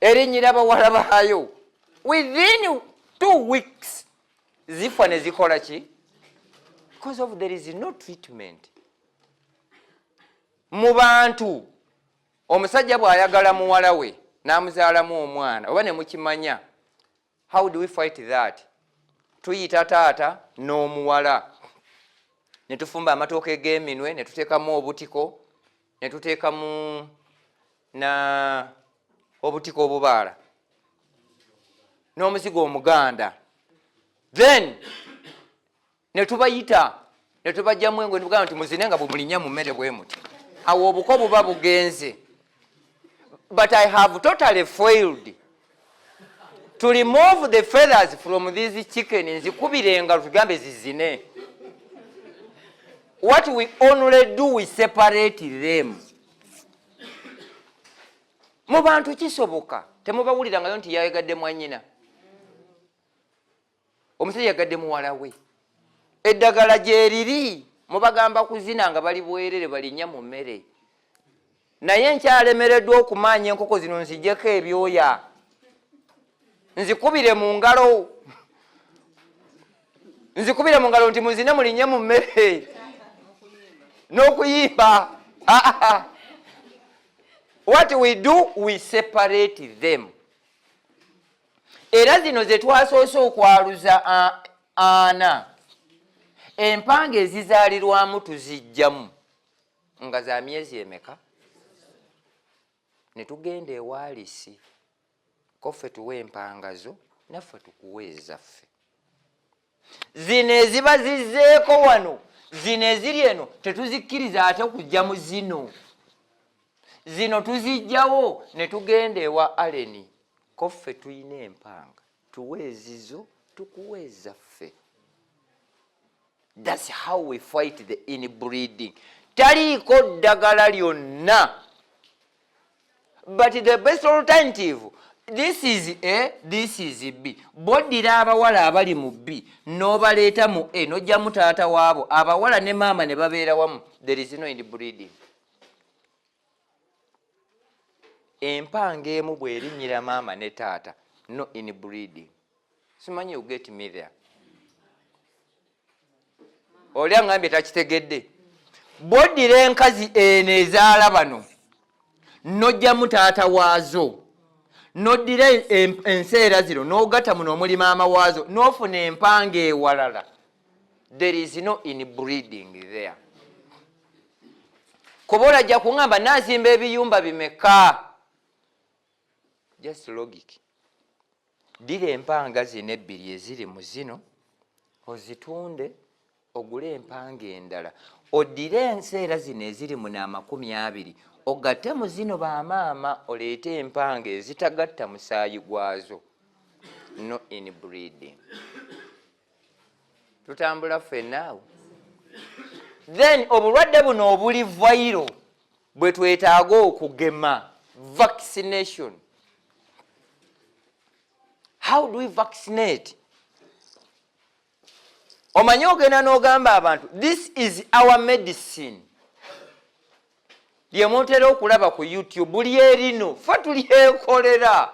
erinnyira abawala baayo within two weeks zifa ne zikola ki because of there is no treatment mu bantu omusajja bw'ayagala muwala we n'amuzaalamu omwana oba ne mukimanya how do we fight that tuyita taata n'omuwala ne tufumba amatooka eg'eminwe ne tuteekamu obutiko ne tuteekamu na obutiko obubaala n'omuzigo omuganda then ne tubayita ne tubajjamu engo ne bugamba nti muzine nga bumulinya mu mmere bwe muti awo obuko buba bugenze but i have totally failed to remove the feathers from these chicken nzikubira engalo tugambe zizine what we only do we separate them mu bantu kisoboka temubawulirangayo nti yayegadde mwanyina omusajja yagadde muwala we eddagala gyeriri mubagamba kuzina nga bali bwerere balinya mu mmere naye nkyalemereddwa okumaanya enkoko zino nzijeko ebyoya nzikubire mu ngalo nzikubire mu ngalo nti muzine mulinye mu mmere n'okuyimba ah, ah, ah. what we do we separate them era zino ze twasoose okwaluza ana empanga ezizaalirwamu tuzijjamu nga za myezi emeka ne tugenda ewaalisi koffe tuwa empanga zo naffe tukuwa ezaffe zino eziba zizzeeko wano zino eziri eno tetuzikkiriza ate kujja mu zino zino tuzijjawo ne tugenda ewa aleni ko ffe tulina empanga tuwa ezizo tukuwa ezaffe thats how we fight the inbreeding taliiko ddagala lyonna but the best alternative this is a this is b boddira abawala abali mu b n'obaleeta mu a n'ojjamu taata waabo abawala ne maama ne babeera wamu there is no inbreeding empanga emu bwerinnyira maama ne taata no inbreeding simanyi uget me there oli aŋambye takitegedde bwoddira enkazi eno ezaala bano nojjamu taata waazo noddira enseera zino n'ogatta muno omuli maama waazo n'ofuna empanga ewalala there is no in breeding there kuba olajja kuŋamba nazimba ebiyumba bimeka just logic Ddira empanga zino ebbiri eziri mu zino ozitunde ogule empanga endala oddire enseera zino eziri mu n'amakumi abiri ogatte mu zino bamaama oleete empanga ezitagatta musaayi gwazo no in breeding tutambula ffenna awo then obulwadde buno obuli vairo bwe twetaaga okugema vaccination how do we vaccinate omanyi ogenda n'ogamba abantu this is our medicine lyemutera okulaba ku youtube lye lino fe tulyekolera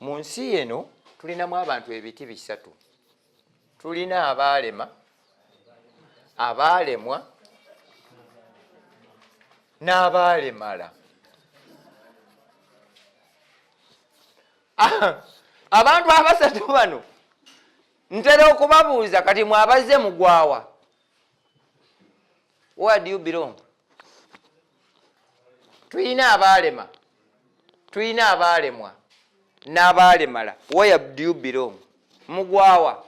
Mu nsi eno tulinamu abantu ebiti bisatu. Tulina abaalema, abaalemwa n'abaalemala. Abantu abasatu bano ntera okubabuuza kati mwabazze mugwawa? Where do you belong? tulina abaalema tulina abaalemwa n'abaalemala where do you belong mugwawa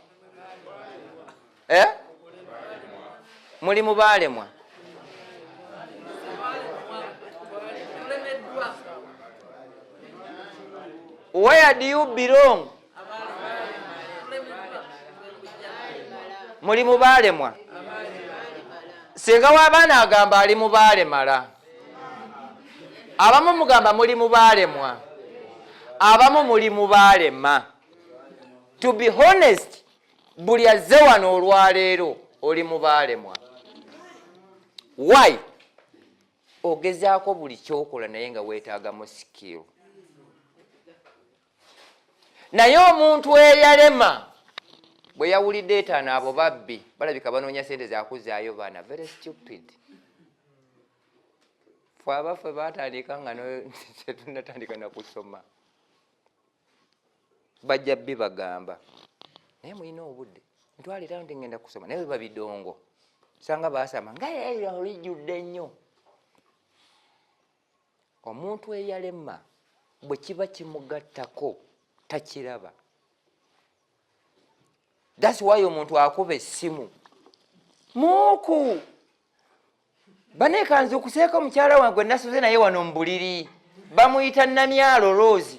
eh? muli mu baalemwa where do you belong muli mu baalemwa singa w'abaana agamba ali mu baalemala abamu mugamba muli mu baalemwa abamu muli mu baalema to be honest buli azze wano olwaleero oli mu baalemwa why ogezaako buli kyokola naye nga weetaagamu sikiru naye omuntu eyalema bwe yawulidde etaano abo babbi balabika banoonya sente zakuzaayo baana very stupid fe abaffe batandika nga tetunatandika nakusoma bajja bbi bagamba naye mulina obudde ntwalira nti ngenda kusoma naye webabidongo sanga basama nga yaira olijjudde nnyo omuntu eyalema bwe kiba kimugattako takiraba dasi wayo omuntu akuba essimu muuku banekanze okuseeka omukyala wange gwe nasuze naye wano mubuliri bamuyita namyalo rose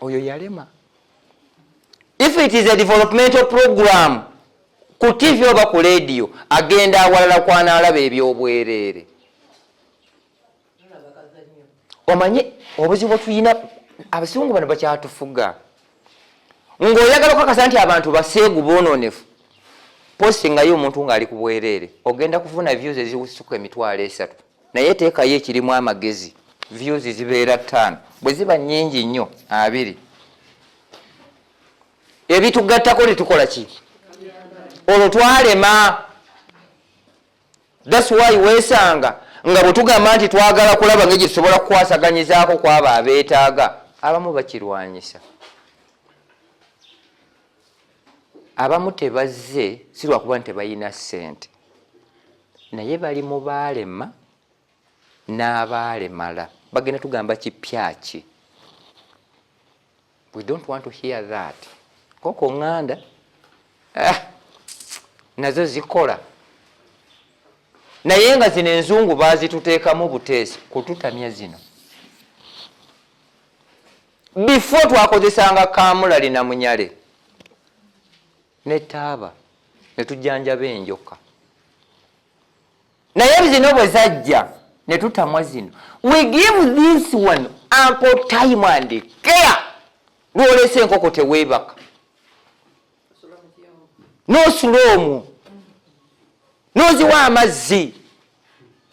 oyo yalema if it is a developmental program ku tv oba ku lediyo agenda awalala kwanaalaba ebyobwereere omanyi obuzibu bwetulina abasungu bano bakyatufuga ngaoyagala okukakasa nti abantu baseegu bononefu posingayo omuntu ng'ali ku bwereere ogenda kufuna views ezisuka emitwalo esatu naye teekayo ekirimu amagezi views zibeera ttaano bwe ziba nnyingi nnyo abiri ebitugattako netukola ki olwo twalema thats why weesanga nga bwe tugamba nti twagala kulaba nga gye tusobola kukwasaganyizaako kwabo abeetaaga abamu bakirwanyisa abamu tebazze si lwakuba nti tebalina ssente naye bali mu baalema n'abaalemala bagenda tugamba kipyaki we don't want to hear that koko nganda ah, nazo zikola naye nga zino enzungu bazituteekamu buteesi kututamya zino before twakozesanga kamulali na munyale ne taaba ne tujjanjaba enjoka naye zino bwe zajja ne tutamwa zino we give this one ample time and care lwolesa enkoko teweebaka n'osula omwo n'oziwa amazzi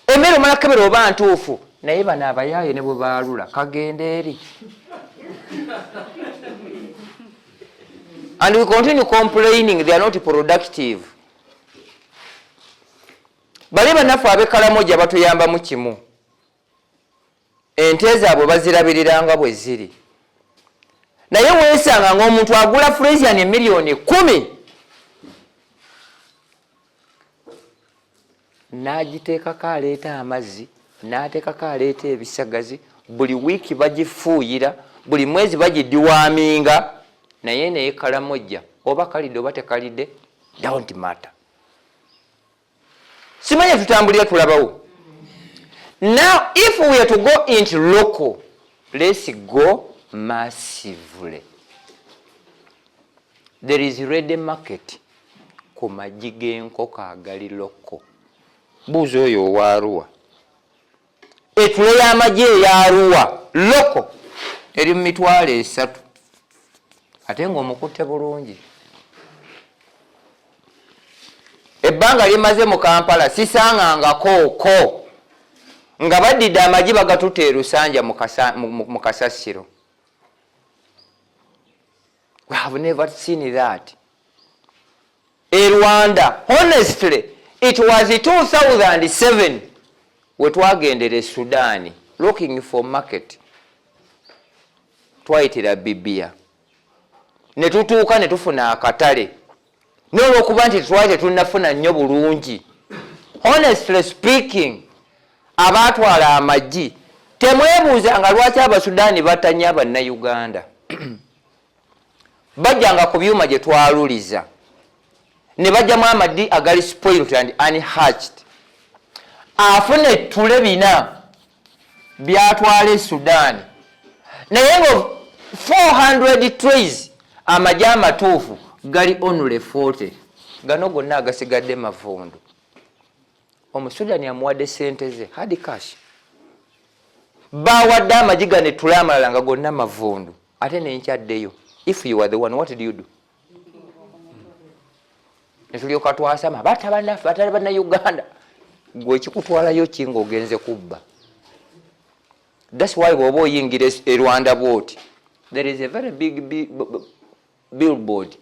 emmere omala kebera oba ntuufu naye bano abayaaye ne bwe baalula kagenda eri and we continue complaining they are not productive bale banaffe abekalamoja batuyambamu kimu ente zaabwe bazirabirira nga bwe ziri naye weesanga ng'omuntu agula fresian emiliyoni kumi n'agiteekako aleeta amazzi n'ateekako aleeta ebisagazi buli wiiki bagifuuyira buli mwezi bagidiwaminga naye naye kalamojja oba kalidde oba tekalidde don't matter simanya tutambulira tulabawo now if we are to go into local let's go massively there is ready market ku magi g'enkoko agali loko buuza oyo owaaruwa Etule y'amagye eya Arua loko eri mu mitwalo esatu ate ng'omukutte bulungi. Ebbanga limaze mu Kampala sisangangako ko nga baddidde amagye bagatutte e Lusanja mu kasasiro. we have never seen that e rwanda honestly it was 2007 wetwagendera esudani looking for market twayitira bibia netutuuka netufuna akatale naye olwokuba nti twali tetunafuna nnyo bulungi honestly speaking abaatwala amagi temwebuuza nga lwaki abasudaani batanya abannayuganda bajjanga ku byuma gye twaluliza ne bajjamu amadi agali spoilt and unhatched afuna ettule bina byatwala e sudan naye nga 400 trays amaje amatuufu gali onule 40 gano gonna agasigadde mavundu omusudani amuwadde sente ze hard cash bawadde amagi ganetula amalala nga gonna mavundu ate nenkyaddeyo if you are the one what do you do netulyoka twasama bata banaffe batali banauganda gwe ekikutwalayo ki nga ogenze kubba thats why bwoba oyingira e rwanda bwoti there is a very big billboard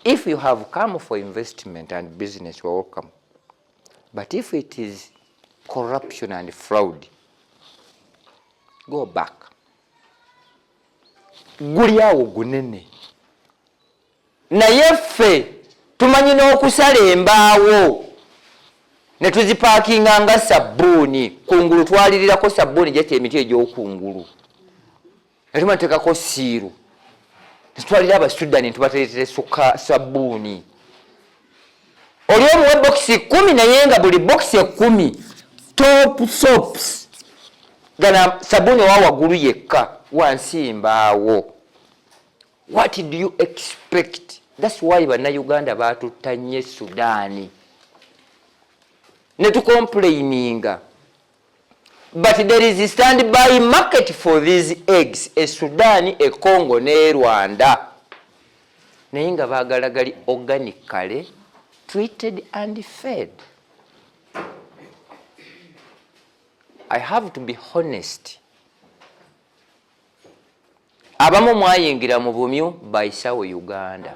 if you have come for investment and business you're welcome but if it is corruption and fraud go back guli awo gunene naye ffe tumanyi n'okusala embaawo ne tuzipaakinga nga sabbuuni kungulu twalirirako sabbuuni jati emiti egyokungulu natuma ntekako siiru netwalira abasudani ntubateretere sabbuuni oli omuwe bokisi kumi naye nga buli bokisi ekumi top sops gana sabuni owa waggulu yekka wansi mbaawo what do you expect thats why bannayuganda baatuttanye sudaani ne tukompuleyininga but there is stand by market for these eggs e sudan e congo ne rwanda naye nga bagala gali organic kale treated and fed i have to be honest abamu mwayingira mu bumyu by sawo uganda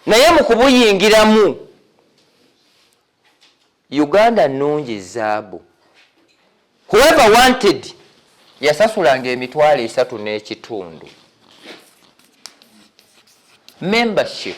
naye mu kubuyingiramu uganda nungi zaabu whoever wanted yasasulanga emitwalo esatu n'ekitundu membership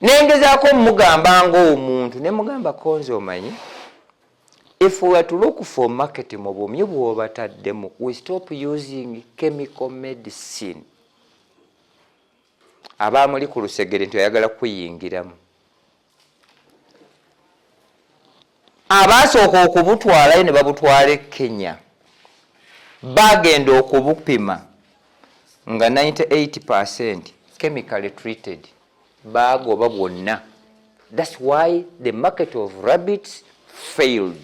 nengezaako omugamba ngaomuntu nemugamba konze omanyi if we are to look for market mu bumyu bwobataddemu we stop using chemical medicine abaamuli ku lusegere nti oyagala kuyingiramu Abaasooka okubutwalayo ne babutwala e Kenya baagenda okubupima nga 98 per cent chemically treated baagoba bwonna thats why the market of rabbits failed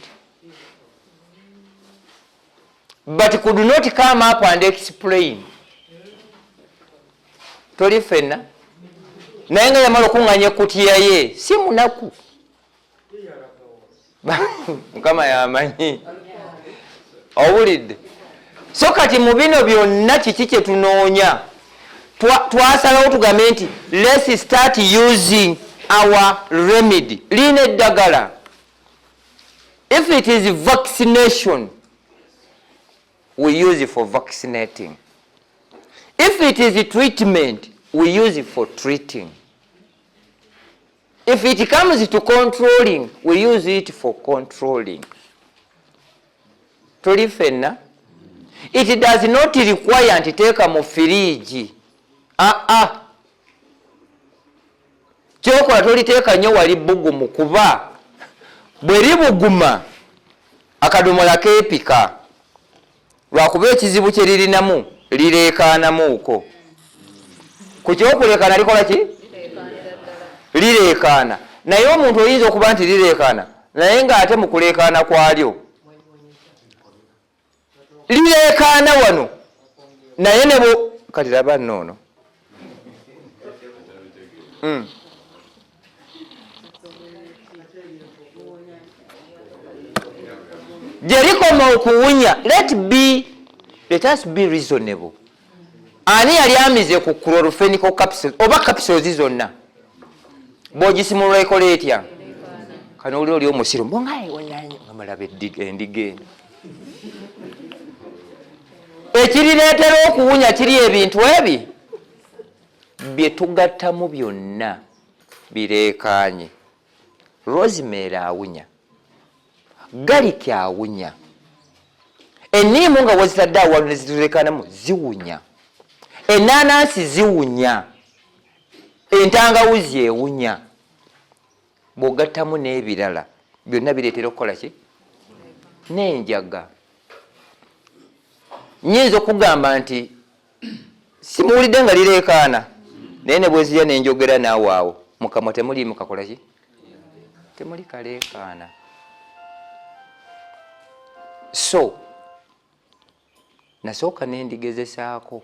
but could not come up and explain toli fenna naye nga yamala okunganya ekutiya ye si munaku mukama yamanyi owulidde so kati mu bino byonna kiki kyetunoonya twasalawo tugambe nti lets start using our remedy liina eddagala if it is vaccination we use it for vaccinating if it is treatment we use it for treating If it comes to controlling, we use it for controlling. Tuli fenna. It does not require nti teeka mu firiigi. Ah ah. Kyokola toliteeka nnyo wali bugumu kuba bwe libuguma akadomola keepika. lwakuba ekizibu kye lirinamu lireekaanamuuko ku kyokuleekaana likola ki lireekaana naye omuntu oyinza okuba nti lireekaana naye ng'ate mu kuleekaana kwalyo lireekaana wano naye nebo kati laba noono Mm. gye likoma okuwunya let be let us be reasonable ani yali amize ku clorofenical capsules oba capsules zonna bwogisimulula ekola etya kano oli oli omusiru mbongaewananyi amalabe endiga eno ekirireetera okuwunya kiri ebintu ebi bye tugattamu byonna bireekaanye rosemary awunya galiki awunya enniimu nga wazitadde awalu nezitureekanamu ziwunya ennaanansi ziwunya entangawuzi ewunya bw'ogattamu n'ebirala byonna bireetera okukola ki n'enjaga nyinza okugamba nti simuwulidde nga lireekaana naye ne bwezirya nenjogera naawe awo mukamwa temuliimu kakola ki temuli kaleekaana so nasooka nendigezesaako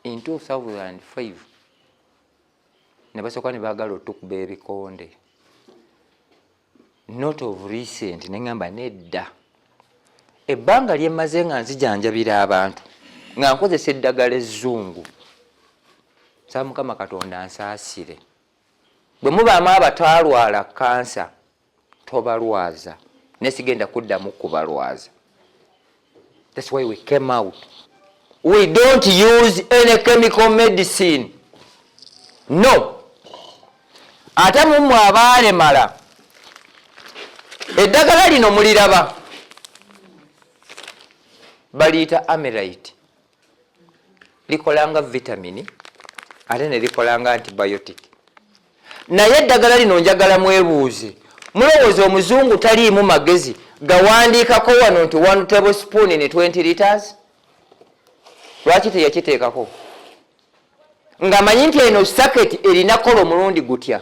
in 2005 ne basooka ne baagala otukuba ebikonde not of recent ne ŋŋamba nedda ebbanga lye mmaze nga nzijanjabira abantu nga nkozesa eddagala ezzungu saa mukama katonda nsaasire bwe mubaamu abatwalwala kansa tobalwaza naye sigenda kuddamu kubalwaza thats why we came out we don't use any chemical medicine no ate mumwe abaalemala eddagala lino muliraba baliyita amerit likola nga vitamini ate ne likola nga antibiotic naye eddagala lino njagala mwebuuze mulowooza omuzungu taliimu magezi gawandiikako wano nti one table spoon in 20 liters lwaki teyakiteekako ngamanyi nti eno saketi erina kola omulundi gutya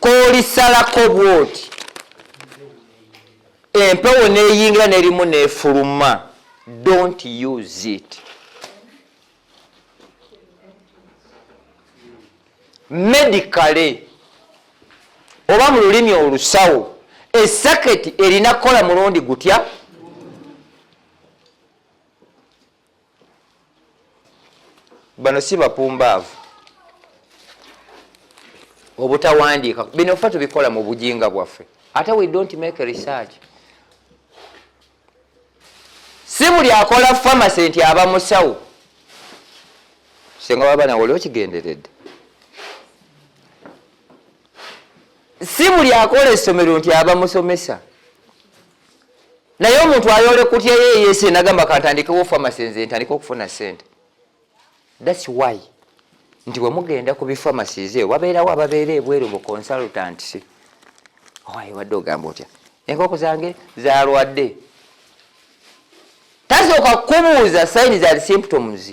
kolisalako bwoti empewo neyingira nerimu nefuluma don't use it medicale oba mu lulimi olusawo esaketi erina kukola mulundi gutya bano si bapumbaavu obutawandiika bino fe tubikola mu bujinga bwaffe ate we don't make research si buli akola famasi nti aba musawo senga waba nawe oli okigenderedde si buli akola essomero nti aba musomesa naye omuntu ayole kutya yeyese nagamba kantandikewo famasi nze ntandika okufuna sente thats why nti bwemugenda ku bifamasize wabeerawo ababeera ebweru mu consultant owaye wadde ogamba otya enkoko zange zalwadde tasooka kukubuuza saini za symptoms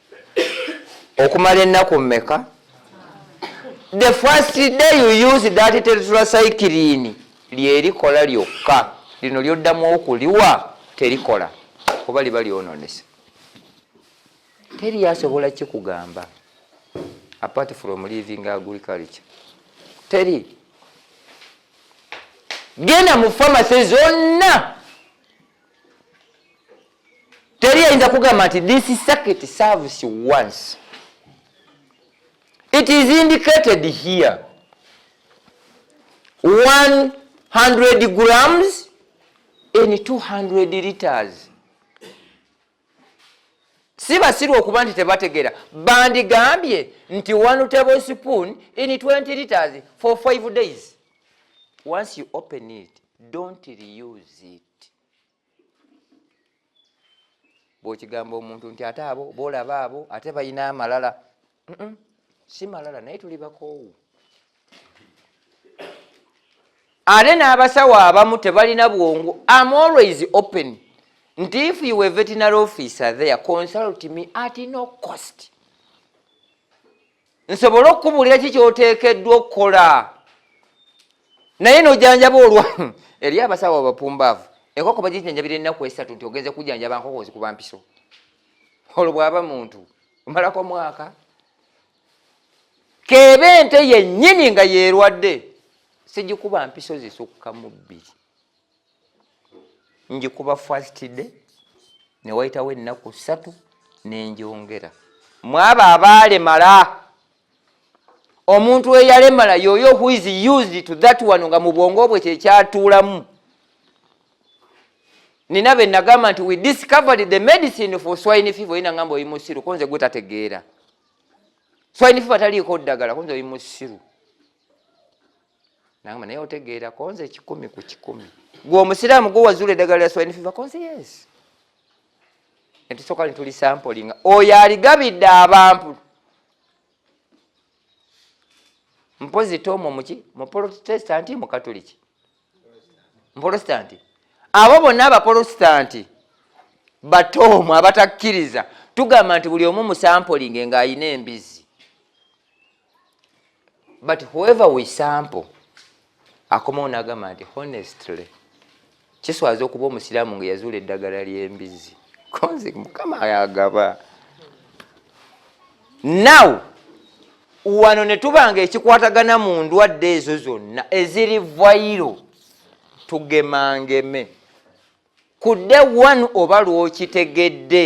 okumala ennaku mmeka the first day you use that tetracycline lyerikola lyokka lino lyoddamu okuliwa terikola kuba liba lyononese teri asobola kikugamba apart from living agriculture teri genda mu famasi zonna teri ayinza kugamba nti this circuit serves once it is indicated here 100 grams in 200 liters si basiru okuba nti tebategeera bandigambye nti one table spoon in 20 liters for 5 days once you open it don't reuse it bwokigamba omuntu nti ate abo bolaba abo ate balina amalala si malala naye tuli bakoowu ate n'abasawo abamu tebalina bwongo am always open nti if you a veterinary officer there consult me at no cost nsobole okukubuulira ki kyoteekeddwa okukola naye nojanjaba olwa eri abasawo abapumbaavu enkoko bagijanjabira ennaku esatu nti ogenze kujanjaba nkoko ozikuba mpiso olwo bwaba muntu omalako mwaka keeba ente yennyini nga yeerwadde sigikuba mpiso zisukka mu bbiri njikuba first day ne wayitawo ennaku ssatu nenjongera mwabo abaalemala omuntu eyalemala yoyo who is used to that one nga mu bwongo bwe kyekyatuulamu nina be nagamba nti we discovered the medicine for swine fever yina ngamba oli musiru konze gwe tategeera swine fever taliiko ddagala konze oli musiru nangamba naye otegeera konze ekikumi ku kikumi gwe omusiraamu gwe wazuula eddagala lya swine fever konze yes netusooka netuli sampolinga oyo aligabidde abantu mpozi tomo muki muprotesitanti mukatoliki muprotesitanti abo bonna abaprotesitanti batoomu abatakkiriza tugamba nti buli omu musampolinge ng'alina embizi but whoever we sample akomawo nagamba nti honestly kiswaza okuba omusiraamu nga yazuula eddagala ly'embizzi konzi mukama yagaba now wano ne tuba nga ekikwatagana mu ndwadde ezo zonna eziri vayiro tugemangeme kudde one oba lwokitegedde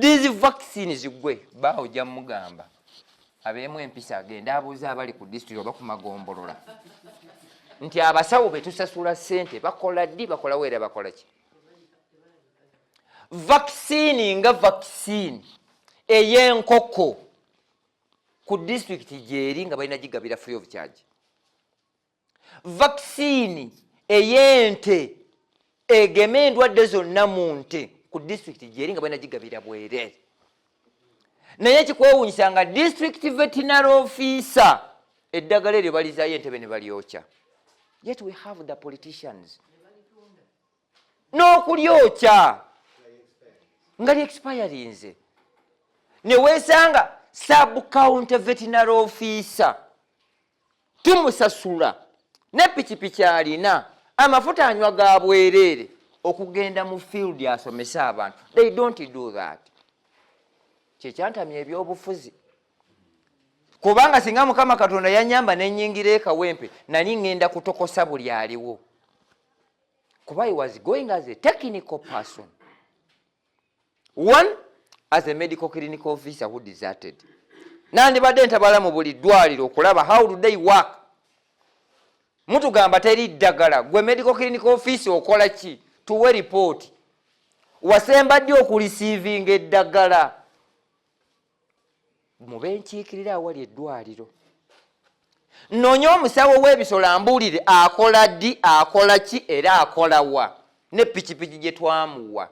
these vaccines gwe baawo ojja mugamba abeemu empisa agende abuuza abali ku disitulikiti oba ku magombolola nti abasawo betusasula sente bakola ddi bakolawo era bakola ki vaccine nga vaccine ey'enkoko ku disitulikiti gyeri nga balina gigabira free of charge vakisiini ey'ente egema endwadde zonna mu nte ku disitulikiti gyeri nga balina gigabira bwereere naye ekikwewunyisa nga disitulikiti vetinary ofiisa eddagala eryo balizayo entebe ne balyokya yet we have the politicians n'okulyokya nga lyexpirinze neweesanga subcounty vetinary ofiisa tumusasula ne pikipiki alina amafuta anywa ga bwereere okugenda mu field asomese abantu they don't do that kyekyantamya ebyobufuzi kubanga singa mukama katonda yanyamba nenyingira ekawempe nali ngenda kutokosa buli aliwo kuba he was going as a technical person one as a medical clinical officer who deserted nandibadde ntabala mu buli ddwaliro okulaba how do they work mutugamba teri ddagala gwe medical clinical office okola ki tuwe ripooti wasemba ddi okulisiivinga eddagala mu benkiikirira awali eddwaliro noonye omusawo w'ebisolo ambuulire akola ddi akola ki era akola wa ne pikipiki gye twamuwa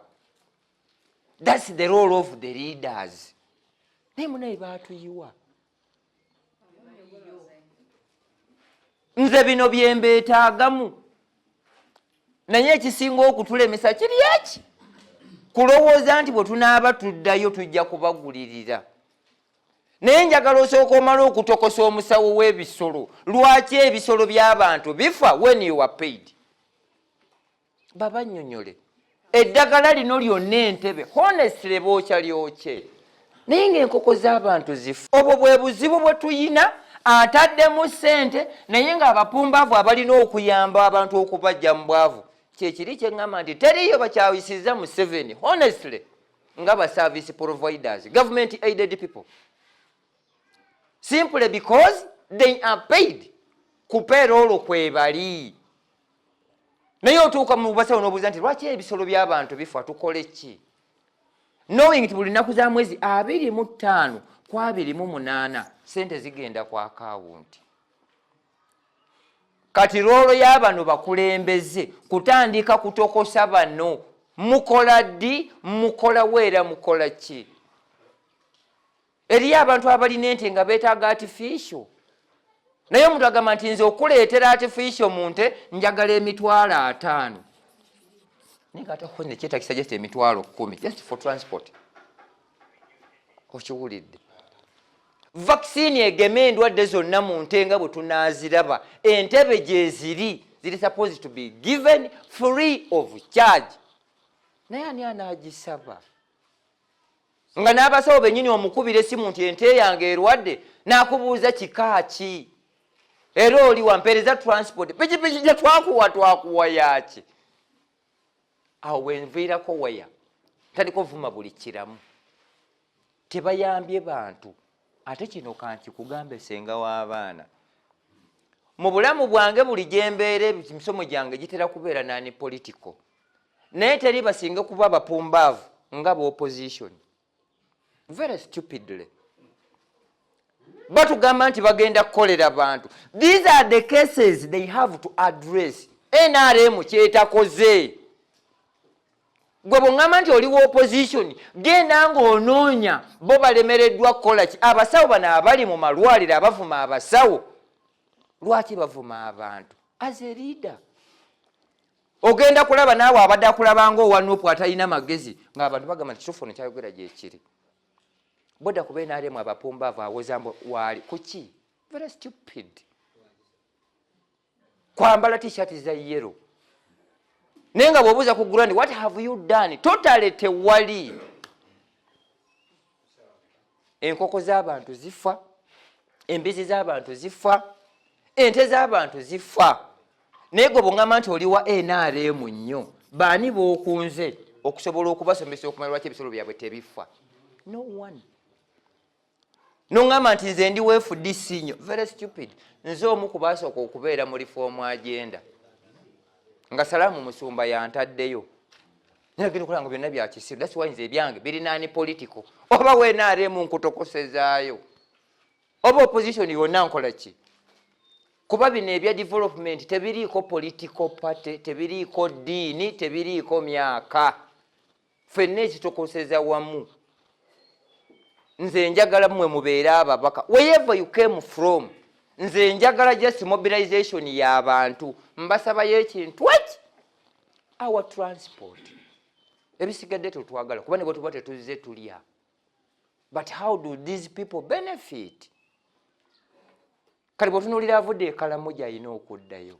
thats the role of the leaders naye munaye baatuyiwa nze bino byembeetaagamu naye ekisinga okutulemesa kiri eki kulowooza nti bwe tunaaba tuddayo tujja kubagulirira naye njagala osooka omala okutokosa omusawo w'ebisolo lwaki ebisolo by'abantu bifa when you are paid babanyonyole eddagala lino lyonna entebe honesle bookya lyokye naye ngaenkoko z'abantu zifu obwo bwe buzibu bwe tuyina ataddemu sente naye ng'abapumbaavu abalina okuyamba abantu okubajja mu bwavu kyekiri kyeŋŋamba nti teriiyo bakyawisiza museveni honestly nga ba service providers government aided people simply because they are paid kupeera olwo kwebali naye otuuka mubasawo nobuuza nti lwaki ebisolo byabantu bifa tukole ki knowing nti buli nnaku za mwezi abiri mu ttaano ku abiri mu munaana sente zigenda ku akawunti kati loolo y'abano bakulembeze kutandika kutokosa bano mukola ddi mukolawo era mukola ki eriyo abantu abalina ente nga betaaga artificial naye omuntu agamba nti nze okuleetera artificial mu nte njagala emitwalo ataano nekyetakisa just emitwalo kumi just for transport okiwulidde vaccine egema endwadde zonna mu nte nga bwe tunaaziraba entebe gyeziri ziri supposed to be given free of charge naye ani anaagisaba nga n'abasawo bennyini omukubira essimu nti ente yange erwadde n'akubuuza kika ki era oli wampeereza transport pikipiki gye twakuwa twakuwa yaaki awo wenviirako waya tandika ovuma buli kiramu tebayambye bantu ate kino kankikugambe senga w'abaana mu bulamu bwange buli gyembeera emisomo gyange gitera kubeera nani political naye teri basinga kuba bapumbaavu nga bopposition very stupidly batugamba nti bagenda kukolera bantu these are the cases they have to address nrm kyetakoze gwe bweŋŋamba nti oli wa opposition genda ng'onoonya bo balemereddwa kukola ki abasawo bano abali mu malwaliro abavuma abasawo lwaki bavuma abantu as a leader ogenda kulaba naawe abadde akulabanga owa nupu atalina magezi ngaabantu bagamba nti kitufu ono kyayogera gyekiri boda kuba enaremu abapumbaavu awozambo waali kuki very stupid kwambala tishat za yero naye nga bwobuuza ku gurandi what have you done totale tewali enkoko z'abantu zifa embizi z'abantu zifa ente z'abantu zifa naye gwe bwongamba nti oli wa nrm nnyo baani bookunze okusobola okubasomesa okumanya lwaki ebisolo byabwe tebifa no one noŋamba nti nze ndi wfdc nyo very stupid nze omu kubasooka okubeera mu lifoomu agenda nga salaamu musumba yantaddeyo naye genda okulaba nga byonna bya kisiru that's why nze ebyange birinaani political oba wenaaremu nkutokosezaayo oba opposition yonna nkola ki kuba bino ebya development tebiriiko political party tebiriiko ddiini tebiriiko myaka fenna ekitokoseza wamu nze njagala mwe mubeere ababaka wherever you came from nze njagala just mobilization y'abantu mbasabayo ekintu eki awa transport ebisigadde tetwagala kuba nebwe tuba tetuzze tulya but how do these people benefit kale bwotunulira avudde ekalamu gyalina okuddayo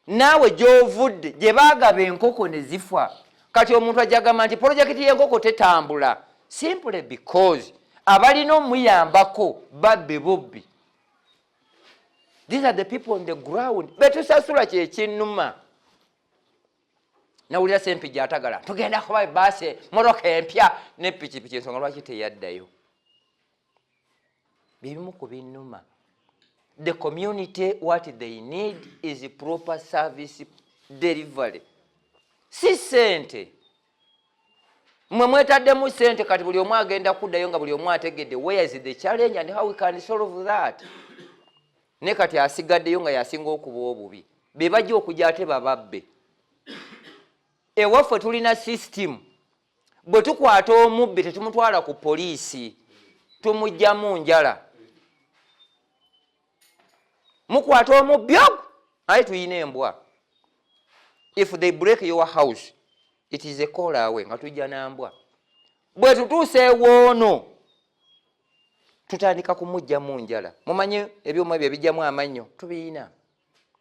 naawe gyovudde gye baagaba enkoko ne zifa kati omuntu ajagamba nti polojekiti y'enkoko tetambula simply because abalina omuyambako babbe bubbi these are the people on the ground betusasula kyekinuma nawulira sempi gyatagala tugenda kuba baase moroka empya ne pikipiki ensonga lwaki teyaddayo byebimu ku binuma the community what they need is proper service delivery si sente mwe mwetaddemu sente kati buli omu agenda kuddayo nga buli omu ategedde where is the challenge and how we can solve that ne kati asigaddeyo nga yasinga okuba obubi be bajja okujja ate bababbe ewaffe tulina system bwe tukwata omubbi tetumutwala ku poliisi tumugjamu njala mukwata omubbi ogwo aye tuyina embwa if they break your house it is a call away nga tujja nambwa bwe tutuusa ewoono tutandika kumujjamu njala mumanye ebyuma ebyo ebijjamu amannyo tubiyina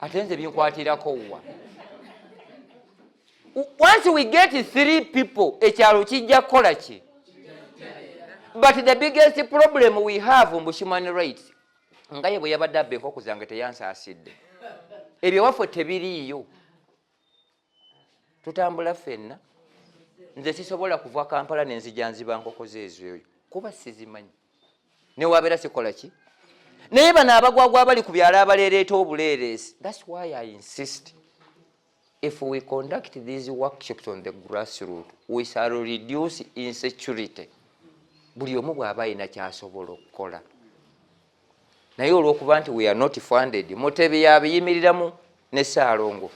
ate nze binkwatirako wa once we get three people ekyalo kijja kukola ki but the biggest problem we have mbu human rights nga ye bwe yabadde abba enkoko zange teyansaasidde ebyo waffe tebiriiyo tutambula fenna nze sisobola kuva kampala nenzija nziba nkoko zeezoyo kuba sizimanyi newabeera sikola ki naye bano abagwagwa abali ku byalo abaleereeta obuleereesi thats why i insist if we conduct these workshops on the grass root we shall reduce insecurity buli omu bw'aba alina kyasobola okukola naye olwokuba nti we are not funded mutebi yabiyimirilamu ne saalongo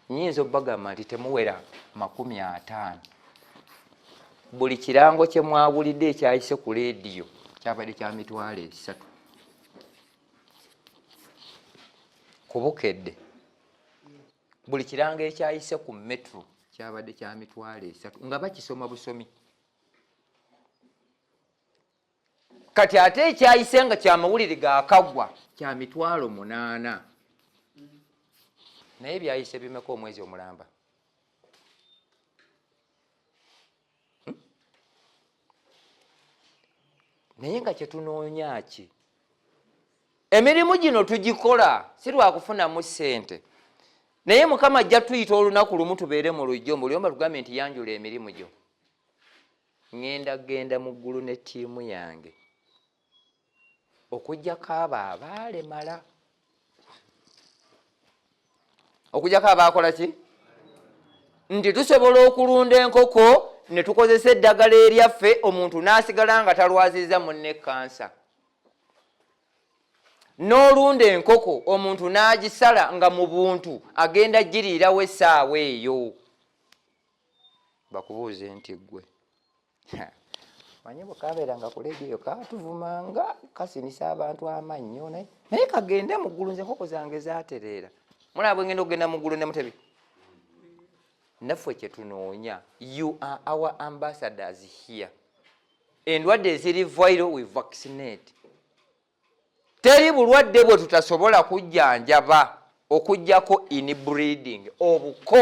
nyinza obagamba nti temuwera makumi ataano buli kirango kyemwawulidde ekyayise ku lediyo kyabadde kya mitwalo esatu kubukedde buli kirango ekyayise ku metro kyabadde kya mitwalo esatu nga bakisoma busomi kati ate ekyayise nga kyamawulire gakagwa kya mitwalo munaana naye byayise bimeka omwezi omulamba hmm? naye nga kyetunoonya ki emirimu gino tugikola si lwakufunamu ssente naye mukama ajja tuyita olunaku lumu tubeere mu lujjo mbuliomba tugambe nti yanjula emirimu gyo Ŋŋenda kugenda mu ggulu ne ttiimu yange, okuggyako abo abaalemala. Okuggyako abaakola ki? Nti tusobola okulunda enkoko ne tukozesa eddagala eryaffe omuntu n'asigala nga talwazizza munne kansa. n'olunda enkoko omuntu n'agisala nga mu buntu agenda giriirawo essaawa eyo bakubuuze nti gwe manyi bwekabeeranga ku lediyo katuvumanga kasinisa abantu amannyo naye naye kagende muggulu nze enkoko zange zatereera mulaba bwengenda okugenda muggulu ne mutebi naffe kyetunoonya you are our ambassadors here endwadde eziri viral we vaccinate teri bulwadde bwe tutasobola kujjanjaba okujjako inbreeding obuko